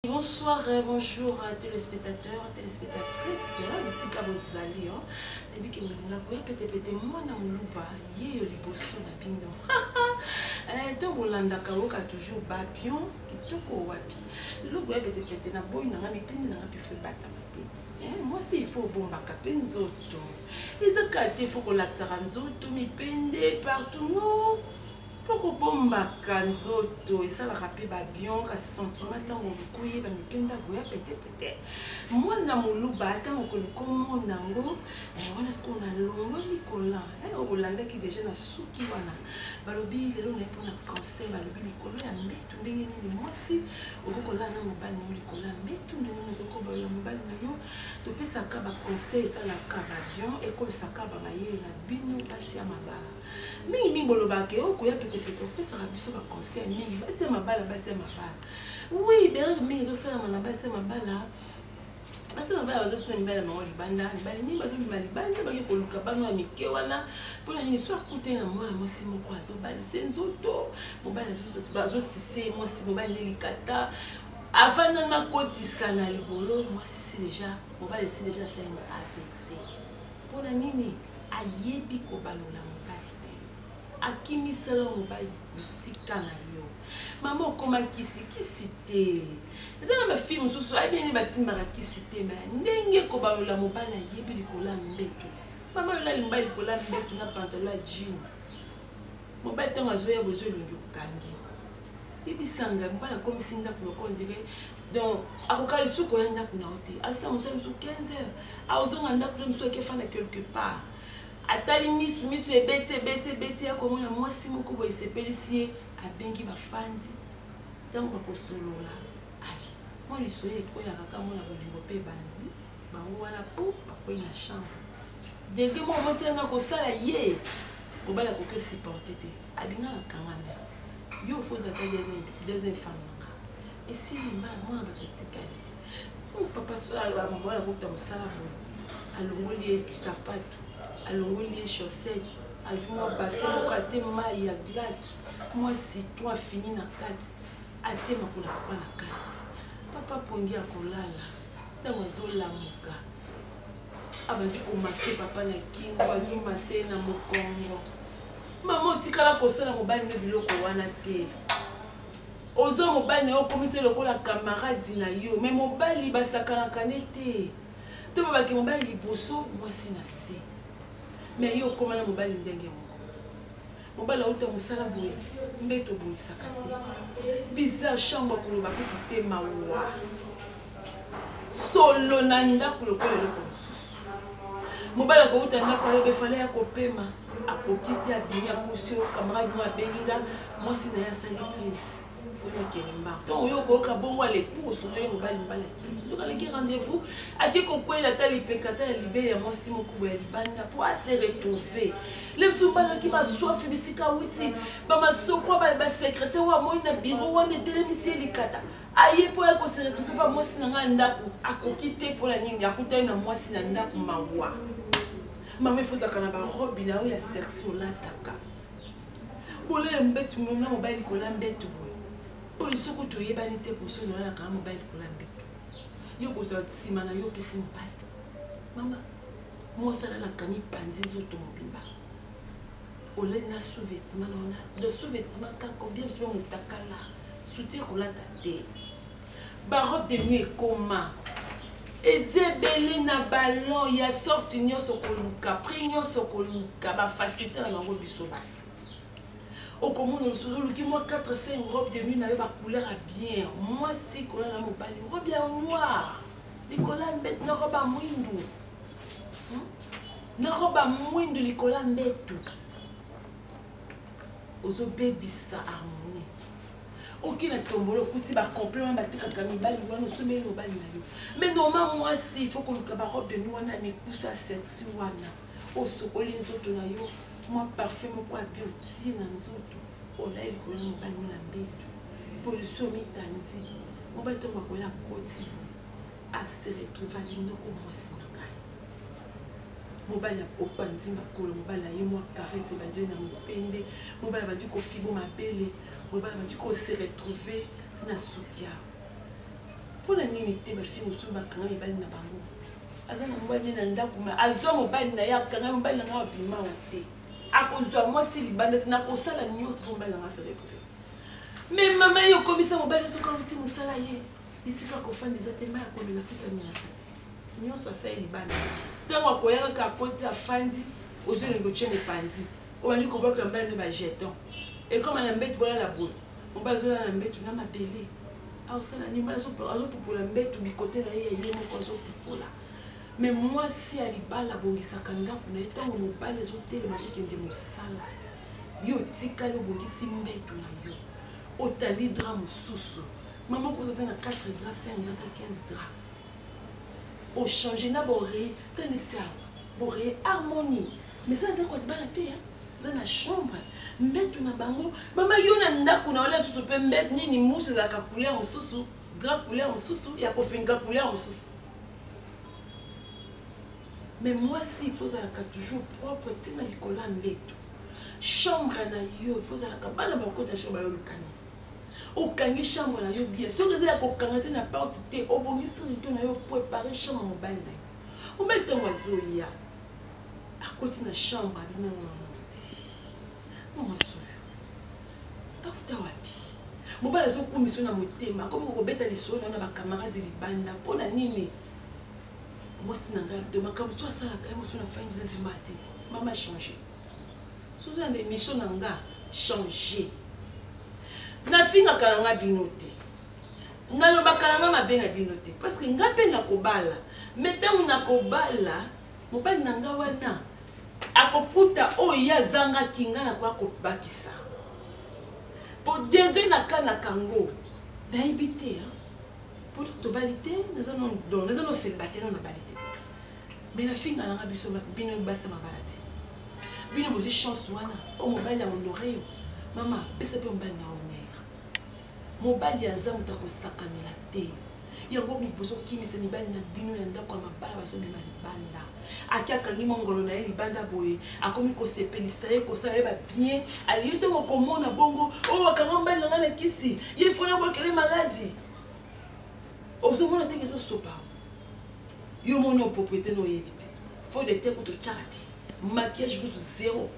Bonsoir, euh, bonjour euh, téléspectateurs, téléspectatrices, hein, bisika bozali hein. nayebi ke molinga koya petepete mwana moluba yeyo liboso na bino eh, to bolandaka oyoka toujours bapion kitoko wapi lelo boya petepete na boyi nanga mipindi nanga pifo ebata mapeti eh, mwasi ifo obombaka mpe nzoto ezaka te ifo kolakisaka nzoto mipende partout non Po kobombaka nzoto esalaka pe ba bion kasi sentiment tango mikuye ba mipenda boya pete pete muana muluba tango okoluka omona ngo eh wana sikoyo na longoli collant eh oyo bolandaki deja na suki wana balobi lelo naye pona cancer balobi likolo ya mbetu ndenge nini muasi okoki kolala na mobali nayo likolo ya mbetu ndenge nini okoki kobalola mobali nayo topesaka ba conseil esalaka ba bion ekolisaka ba mayele na bino basi ya mabala. Mingi mingi bolobaka ke oh koya pete pete opesaka biso ba conseil mingi basi ya mabala basi ya mabala oui b'erreur mingi ezosalama na basi ya mabala basi na bana bazotinda mibali ya bango libanda mibali mingi bazobima libanda bake koluka bana ya mike wana mpo na nini so akutani na mwana mwasi moko azobalise nzoto mobali azosise mwasi mobali nde likata afanda makotisa na libolo mwasi si deja mobali si deja asali na avexe Pona nini ayebi kobalola mobali na yo akimisela mobali musika na yo maman okoma kisi kisi te eza na ba fille mususu ayebi nini basimbaka kisi te me ndenge kobalola mobali ayebi likolo ya mbetu maman olali mobali likolo ya mbetu na pantalon ya jean Mobali tango azoya bozo elongi okangi ye bisangai mobali akomisi ndaku lokola ondire donc akoka lisusu koya ndaku na yo te azosala mosala mosusu 15 heures akozonga ndaku na mosusu ake fanda quelque part atali misu misu ebeti ebeti ebeti ya komona mwasi moko boye esepelisi ye abengi bafandi ntango bakosolola ale mwa lisoye ekoyaka kaka mona bolingo mpe ebandi bango wana po bakwei na chambre degre moko mwasi na ngai kosala ye mobali akoki osupporte te abinga na kangami yo ofo ozalaka deuxième femme na nga esili mbala mwana bato atikali oh, papa ah, mobali akokuta mosala boye alongoli ye sapato alongoli ye chaussette azwi mwa base moko atie mai ya glace mwa citron afini na kati atie makolo akapa na kati papa pongi akolala tango azo lamuka abandi ko masse papa na kingo azo masse ye na mokongo mama otikala kosala mobali no biloko wana te ozwa mobali na yo okomisi lokola kamaradi na yo me mobali basakanaka ne te to babaki mobali liboso mwasi na se me yo okoma na mobali ndenge moko Mobali awuta musala boye mbetu obongisaka te bizarre chambre koloba kutu te mawa solo na ndaku lokola eloko mosusu mobali akowuta ndaku ayebe fale ya kopema akoki te abimi apusi yo camarade mo abengi nga mwasi na ye asali crise ntango yo okooka bongo aleki bokosundoli mobali mobali akei aleki rendez-vous akei kokwela ata lipeka ata na libele ya mwasi moko boye ya libanda mpo ase retrouve le biso mobali oki maswafi bisika awuti bamasoko basekreter oyo amoni na biro wana etelemisi ye likata aye mpo ya kose retrouve mpa mwasi na ngai ya ndako akoki te mpo na nini akutani na mwasi na ndako mawa mama efozaka na barobi na yo ya sersi olataka Bolala mbetu mom na mobali likolo ya mbetu boye oyo soki kutu oyebani te poso oyo nolalaka na mobali likolo ya mbetu yo kozwa nsima na yo opesi mobali mama mosalalaka mipanzi nzoto mobimba olali na sous-vêtement na wana de sous-vêtement kaka obien mpe motakala suti ekolata te Ba robe de nuit ekoma eza ebele na ballon ya sorte nyonso okoluka prix nyonso okoluka ba facilité na bango biso basi okomona lisusu oluki mwa 4 5 robe de nuit na yo ba couleur ya bien mwasi kola na mobali robe ya noir likolo ya mbetu na robe ya mwindu hmm? na robe ya mwindu likolo ya mbetu ozobebisa harmonie oki na tombola okuti bacomple wana batekaka mibali wana osomeli mobali na yo mai normal mwasi ifo koluka barobe de nuit wana ya mikusu ya sexi wana osokoli nzoto na yo mwa parfum moko abi otie na nzoto olai likolo na mobali na mbeto position mitandi mobali ntango akoya akoti aseretrouva linoko mwasi na ngai mobali opanzi makolo mobali aye mwa karese ebandeli na mopende mobali abandi kofibo mabele Boye bana bandi ko se retrouver na Sukia. Pona nini te ba fille mosusu ba kanga mibali na bango. Aza na mobali ne na ndaku mais azwa mobali na ye akanga mobali na ngai abima wa te. Akozwa mwasi libanda te nakosala nyonso po mobali na ngai se retrouver. Mais mama yo komisa mobali soki awuti mosala ye bisika akofanda eza te mai akomela kuta nyaka te nyonso asali libanda ntango akoyaka kaka akoti afandi ozwi elengi otye mopanzi Obandi kobwaka ya mobali na ba jetons. Ekoma na mbetu bolala boye. Mobali azolala na mbetu na mabele. Aosala nini? Mobali azopupola mbetu bikote na ye ya ye moko azopupola. Mais mwasi ya libala abongisaka ndako na ye ntango mobali azotelema azokende mosala. Yo otikali obongisi mbetu na yo. Otandi drap mosusu. Mama okota ata na 4 drap, 5 drap, ata 15 drap. Ochange na boreye ata neti awa. Boreye harmonie. Mais eza ndaku ya libala te hein. Eza na chambre, mbetu na bango. Mama yo na ndaku na yo lisusu pe mbetu nini mousse ezalaka couleur mususu, grand couleur mususu, ya kofinga couleur mususu. Mais mwasi il faut ozalaka toujours propre ti na likolo ya mbetu. Chambre na yo il faut ozalaka bana bakota chambre yo luka nini? okangi chambre na yo bien soki eza ya kokanga te na porte te obongisi rido na yo prepare chambre mobali na yo mobali ntango azoya akoti na chambre abi nanga na muti no mwasi oyo akuta wapi mobali azokumisa na motema akomi kokobeta lisolo na yo na bakamaradi libanda mpo na nini mwasi na ngai abdo makambo so asalaka ye mosu na fandi na ndima te mama change soza na emission na nga change nafingaka na nga bino te Nalobaka nanga mabe na bino te parceque nga pe nakobala mais tango nakobala mobali na nga wana akokuta oyo ye azangaki nga nakoya kobakisa po degre na kanaka yango nayebi te hein? po tobali te naza no célibataire na nabali te me nafinga nanga biso bino basi ya mabala te bino bozwi chance wana oyo mobali ya honore yo mama pesa mpe mobali na honore Mobali ya nzambe moto ya kosakanela te yango mi bozo kimisa mibali na bino ya ndako ya mabala bazo bima libanda ake akangi mwa ngolo na ye libanda boye akomi kosepelisa ye kosala ye ba bien aliyo ntango komona bongo oyo oh, akanga mobali na ngai na kisi ye fona bwakele maladi ozomona ndenge ezosopa yo moni o propriete na oyebi te fo de te kutu tyaka te maquillage kutu zero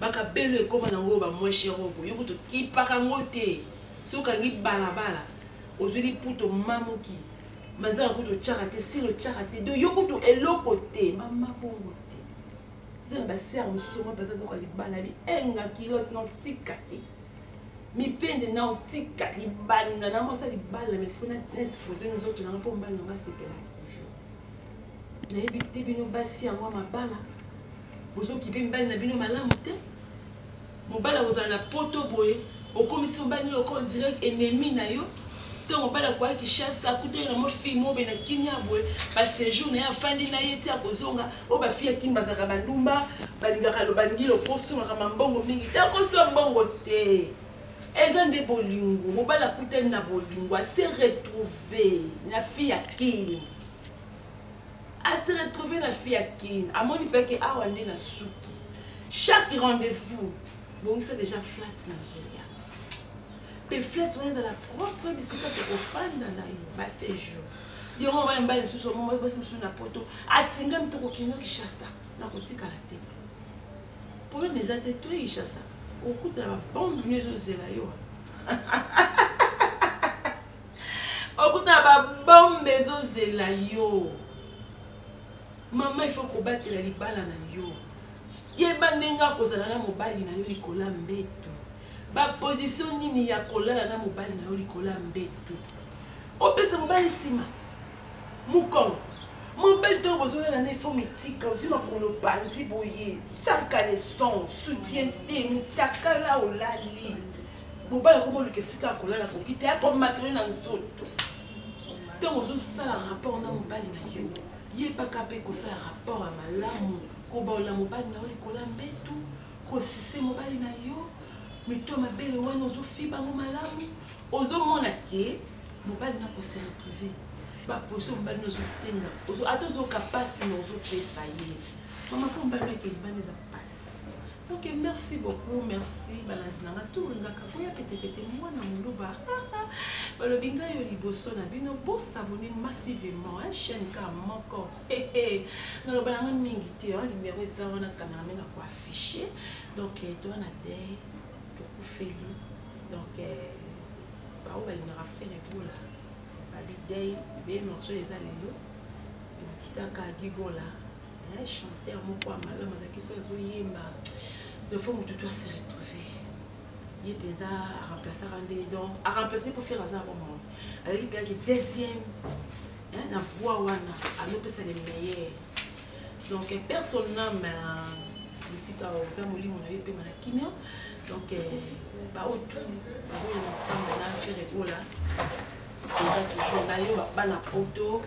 Ba kabelo ekoma nango oyo ba moins cher oyo boye yo kutu okipaka yango te soki okangi balabala ozui liputa omamuki manzaka kutu otiaka te silo otiaka te donc yo kutu eloko te mama bongo te eza na ba sœur mosusu omoi baza biloko ya libala bienga kilote na otika te mipende na otika libanda na mwasa libala mais fona nespose nzoto nanga mpo mbala na basepela nayebi te bino basi yango ya mabala Bozo kipe mibali na bino malamu te. Mobali akozala na poto boye, okomisi mobali nini oko on dirait ennemi na yo. Tango mobali akoya Kinshasa, akutani na mwa fille moko boye na kimia boye, ba sejour na ye afandi na ye ti akozonga. Oyo ba fille ya kin bazalaka ba ndumba, balingaka balingi lokoso, makambo ya mbongo mingi te. Lokoso ya mbongo te. Eza nde bolingo. Mobali akutani na bolingo, a se retrouver na fille ya kin. A se retrouver na fille ya kin amoni pe ke awa nde na suki chaque rendez-vous bongisa dejà flat na zoya pe flat wana ezala propre bisika tokofanda na yo ba séjour yango wana mbali mosusu basi mosusu na poto atingami tokokende kishasa na kotikala te problème eza te toye kishasa okutana babombe nio ezozela yo Okutana ba bombe ezo zela yo. Maman il faut kobatela libala na yo. Yeba ndenge ya kozala na mobali na yo likolo ya mbetu. Ba position nini ya kolala na mobali na yo likolo ya mbetu. Opesa mobali sima. Mukolo. Mobali to bozolala na ifo mitika ozwi makolo panzi boye. Sans caleçon, soutien te, mutakala olali. Mobali akomi oluka esika ya kolala akoki te akomata yo na nzoto ntango ozosala rapport na mobali na yo yebaka mpe kosala rapport ya malamu kobaola mobali na yo likolo ya mbetu kosise mobali na yo mito mabele wana ozofiba yango malamu ozomona ke mobali na kose retrouve baposition mobali na ozosenga ata ozoka mpasi na ozopesa ye mama mpo mobali na kelibana eza mpasi Ok merci beaucoup merci balandi na nga tout nga kakoya pete pete mwana muluba balobi nga yo liboso na bino bo s'abonner massivement hein chaîne ka moko naloba na nga mingi te hein numéro eza wana cameraman ako afficher donc eh, toi na te tokufeli donc eh, baoyo balingaka fere bola babi dei be morceau eza lelo donc kitaka gigola Hein chanteur moko ya malamu azalaki so azo yemba donc faut mutu to se retrouver ye penza a remplaçaka nde donc a remplace nde po fere aza bon moko azalaki penza ki deuxième hein na voix wana azo pesa le meilleur donc père son âme bisika oza molimo na yo epema na kimia donc baoyo tout bazoyela ensemble na fere gola Toza toujours nayo bana poto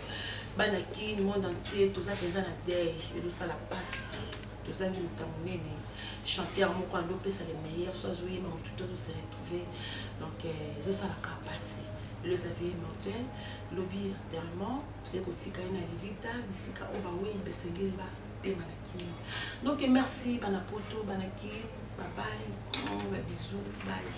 bana kin monde entier toza penza na deuil ezo sala pasi tozangi moto ya monene chanteur moko ando pesa le meilleur so azo yema moto te ozo se retrouver donc euh, ezo sala ka pasi le Xavier Mortuel lobi enterrement toye kotika ye na lilita bisika oyo baweyi basengeli bapema na kimia donc merci bana poto bana kin babai babisou bai